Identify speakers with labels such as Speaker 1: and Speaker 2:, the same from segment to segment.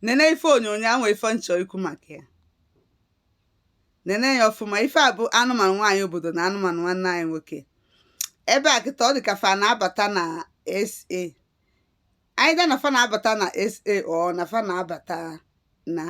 Speaker 1: nene ife onyonyo ahụ ife nchọ ikwu maka ya nene ya ọfụma ife a bụ anụmanụ nwaanyị obodo na anụmanụ nwanne anyị nwoke ebe a kịta ọ dị ka fa na-abata na SA either na fa na-abata na SA or na fa na-abata na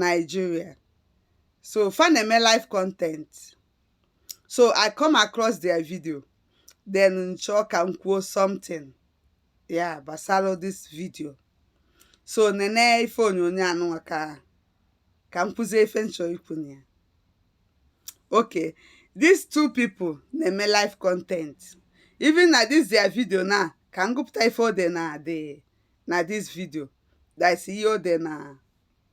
Speaker 1: Nigeria so fa na-eme live content so I come across their video then nchọ ka m kwuo something yeah gbasara this video so nene ife onyonyo anụnwa ka ka m kwuzie ife nchọ ikwu na ya okay these two people na-eme live content even na this their video now ka m gụpụta ife o de na this video that is ihe o de na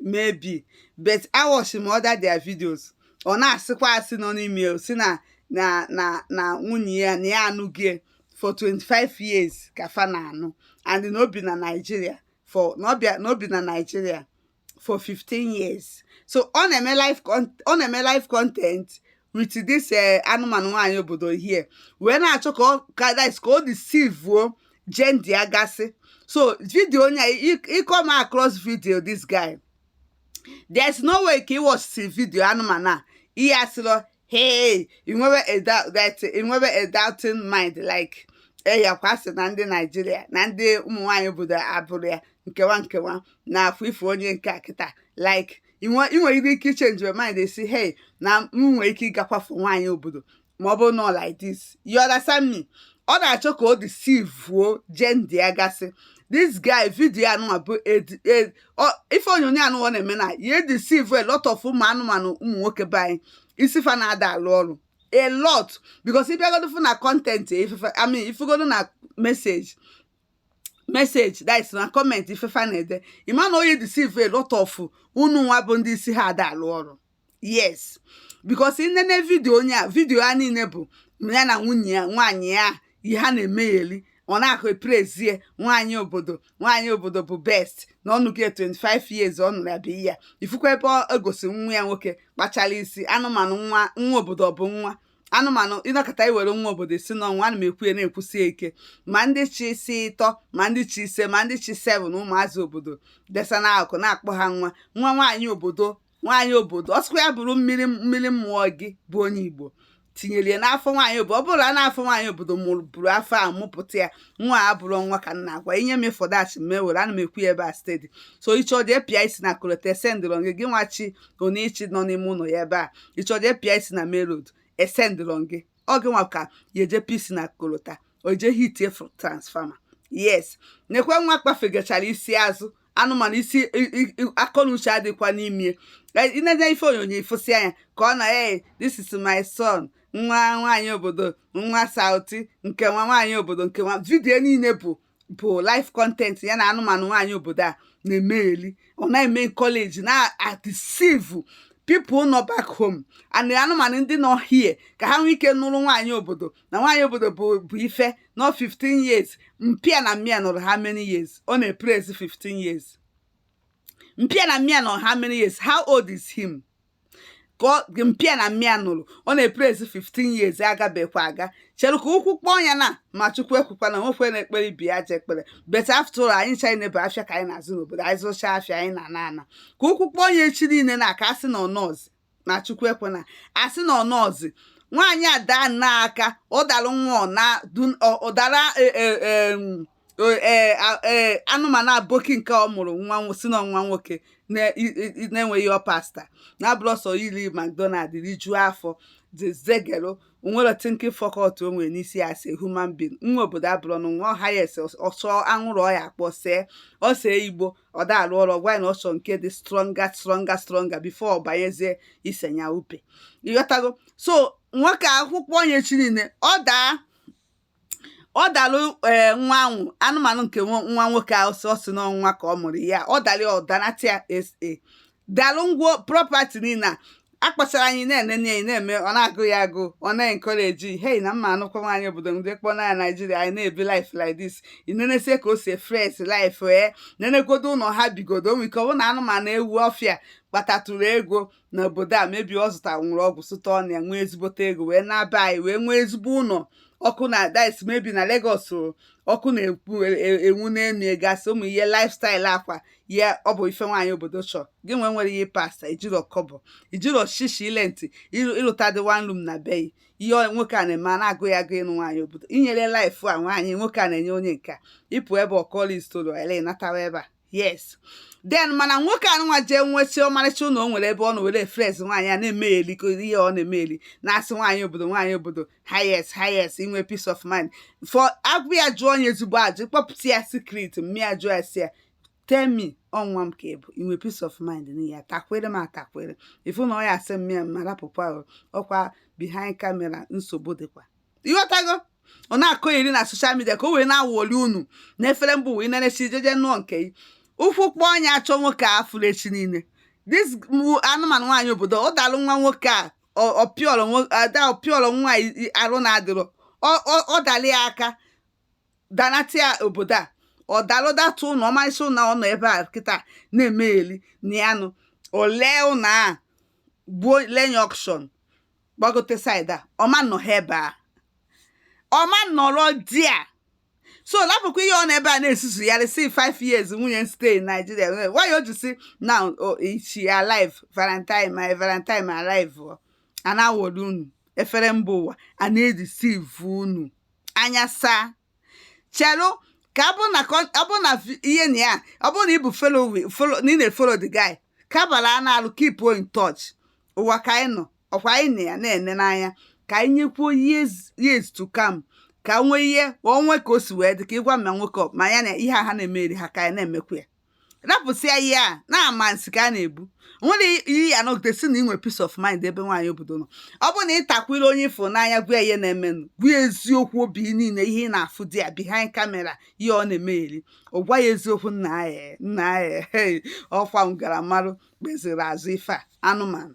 Speaker 1: maybe but awachi m other their videos ọ na-asịkwa asị nọ n'ime ya sị na na na na nwunye ya na ya anụgo for 25 years ka fa na-anụ and na o bi na Nigeria for na ọ bịa na o bi na Nigeria for 15 years so ọ na-eme live ọ na-eme live content with this eh, anụmanụ nwaanyị obodo here wee na-achọ ka ọ ka dis ka o deceive-uo gender ya gasị so video onye a ị come across video this guy there's no way ka ị watchisi video anụmanụ a ị ya-asịrọ hey i nwebe a doubt that i nwebe a doubting mind like eyakwa eh, sị na ndị Nigeria na ndị ụmụ nwaanyị obodo abụrụ ya nkewa nkewa na-afụ ife onye nke a kịta like ị nwere ike ịchange your mind ị sị hey na m nwere ike ịgakwafu nwaanyị obodo ma ọ bụ na like this you understand me ọ na-achọ ka o deceive-uo gender ya gasị this guy video anụnwa bụ ife onyonyo anụnwa na-eme na ya edeceive a lot of ụmụ anụmanụ ụmụ nwoke be anyị isi fa na-ada alụ ọrụ a lot because ị bịagodo fụ na content ife fa I mean ị fụgodo na message message that is na comment ife fa na-ede ị ma na ọ ya deceive a lot of unu nwa bụ ndị isi ha ada alụ ọrụ yes because i nene video onye a video ya niile bụ ya na nwunye ya nwaanyị ya ihe ha na-emegheli ọ na-akụ epraise nwaanyị obodo nwaanyị obodo bụ best na ọ nụgo ya 25 years ọ nụrụ ya bụ ya ị fụkwa ebe o gosi nwa ya nwoke kpachara isi anụmanụ nwa nwa obodo ọ bụ nwa anụmanụ ị nọkata i were nwa obodo sị na ọ nwa ana m ekwu ya na-ekwusi ike ma ndị chị isi ịtọ ma ndị chị ise ma ndị chị seven ụmụazị obodo desa n'akụkụ na-akpọ ha nwa nwa nwaanyị obodo nwaanyị obodo ọ sọkwa ya bụrụ mmiri mmiri amụ gị bụ onye Igbo tinyere ya n'afọ nwaanyị obodo ọ bụrụ na n'afọ nwaanyị obodo mụrụ buru afọ a mụpụta ya nwa a abụrọ nwa ka m na-agwa ị nye m ịfọdụ achị m ewere ana m ekwu ya ebe a steady so ị chọ jee pịa isi na kolota esendịrọ gị gị nwachi ka ọ na-echi nọ n'ime ụlọ ya ebe a ị chọ ije pịa isi na main road esendịrọ gị ọ gị nwa ka ya eje pịa isi na kolota o je hitie fr- transformer yes nekwe nwa kpafegachara isi azụ anụmanụ isi i- i- i- akọ na uche adịkwa n'ime Eh, i nene ife onyonyo ị fụsị anya ka ọ na hey this is my son nwa nwaanyị obodo nwa Southy nke nwa nwaanyị obodo nke nwa video niile bụ bụ life content ya na anụmanụ nwaanyị obodo a na-emegheli ọ na-eme encourage na-adeceive people nọ back home and anụmanụ ndị nọ here ka ha nwee ike nụrụ nwaanyị obodo na nwaanyị obodo bụ ife nọ 15 years mpa ya na mma ya nụrụ how many years ọ na-epraise 15 years mpa ya na mma ya nụrụ how many years how old is him ka mpa ya na mma ya nụrụ ọ na-epraise 15 years agabekwa aga chere ka ụkwụ kpọọ ya na ma Chukwu ekwekwana nwekwe na-ekpere ibe ya ajọ ekpere but after all anyị ncha niile bụ afịa ka anyị na-azụ n'obodo anyị zụcha afịa anyị na-ana ana ka ụkwụ kpọọ ya echi niile na aka asị na ọnọzi na Chukwu ekwena asị na ọnọzi nwaanyị ada n'aka ọ dara nwa na ụdara e, e, e, ee e, e, anụmanụ aboki nke ọ mụrụ nwa si na nwa nwoke na-enweghị ọ pasta na abụrọ sọ iri McDonald rijuo afọ dezegero o nwerọ thinking faculty o nwere n'isi ya as human being nwa obodo abụrụ na nwa ọha ya ese ọsọ anwụrụ ọ ya-akpọ see ọ see igbo ọ da-arụ ọrụ gwa na ọsọ nke dị stronger stronger stronger before ọ banyezie ise nyaope ị ghọtago so nwoke a ụkwụ kpọọ ya echi niile ọ daa ọ dalụ ee nwa ahụ anụmanụ nke nwa nwa nwoke ahụ ọ sị na nwa ka ọ mụrụ ya ọ dalị ya ọ danata ya SA dalụ ngwo property niile a kpachara anyị na-enene anyị na-eme ọ na-agụ ya agụ ọ na-encourage hey na m ma-anụkwa nwaanyị obodo ndị kpọ na Nigeria anyị na-ebi life like this i nenesie ka o si fresh life ee nenegodo ụlọ ha bigodo nwee ike ọ bụ na anụmanụ ewu ọfịa kpatatụrụ ego n'obodo a maybe ọ zụta nwụrụ ọgwụ sụta ọnụ ya nwee ezigbote ego wee naa be anyị wee nwee ezigbo ụlọ ọkụ na-adị maybe na Lagos ọkụ na-enwu e, e, na-enwugasị ụmụ ihe lifestyle a kwa ya ọ bụ ife nwaanyị obodo chọ gịnwa enwerọ ihe pasta i jirọ kọbọ i jirọ shishi i rent ị lụtadị one room na be yị ihe nwoke a na-eme a na-agụ ya agụ ị nụ nwaanyị obodo i nye ya life a nwaanyị nwoke a na-enye onye nke ya ị pụ ebe ọ kọlị story ele natawa ebe a yes then mana nwoke anụwa jee nwesịa ọmarịcha ụlọ o nwere ebe ọ na-ewere fresh nwaanyị a na-emegheli ihe ọ na-emegheli na-asị nwaanyị obodo nwaanyị obodo highest highest inwe peace of mind for agwa ya jụọ ya ezigbo ajụ kpọpụta ya secret mma ya jụọ ya sị ya tell me ọ nwa m ka ị bụ i nwe peace of mind n'ihe ya takwere m atakwere ị fụ na ọ ya-asị mma ya mma rapụkwa okwu a behind camera nsogbu dịkwa ịghọtago ọ na-akọgheri na social media ka o wee na-awụli unu na efere mbụ wee na-echi jeje nụọ nke gị ụkwụ kpọọ onye ọcha nwoke a fụrụ echi niile this anụmanụ nwaanyị obodo ọ dalụ nwa nwoke a ọpịọrọ nwa arụ na-adịrọ ọ dalị ya aka danata ya obodo a ọ dalụ datụ ụlọ ọmarịcha ụlọ ọ nọ ebe a kịta na-emegheli na ya nụ olee ụlọ a gbuo lenye auction gbagote side a ọma nọ ha ebe a ọma nọrọ di a so lapụkwa ihe ọ nọ ebe a na-esusugharị sị 5 years nwunye m stay in Nigeria why o ji sị now oh, she alive valentine my valentine alive oh. a na-awọri unu efere mba ụwa a na-edeceive unu anya saa chelụ ka ọ bụrụ na con- ọ bụrụ na vi- ihe na ya ọ bụrụ na ị bụ follow na ị na-efollow the guy kabala a na-alụ keep in touch ụwa ka anyị nọ ọkwa anyị na ya na-ene n'anya ka anyị nyekwuo years years to come ka nwee ihe onwe ka o si wee dị ka ịgwa m na nwoke ọ- ma ya na ihe a ha na-emeri ha ka anyị na-emekwa ya rapụsịa ihe a na-ama nsị ka a na-ebu nwere ihe ya nọgide si na inwe peace of mind ebe nwaanyị obodo nọ ọ bụ nwatakịrị onye fụ ya n'anya gwa ihe na-emenụ gwa eziokwu obi niile ihe ị na-afụ di ya behind camera ihe ọ na-emegheri ọ gwa ya eziokwu nna ya nna ya ọkwa ngarammarụ kpeziri azụ ife a anụmanụ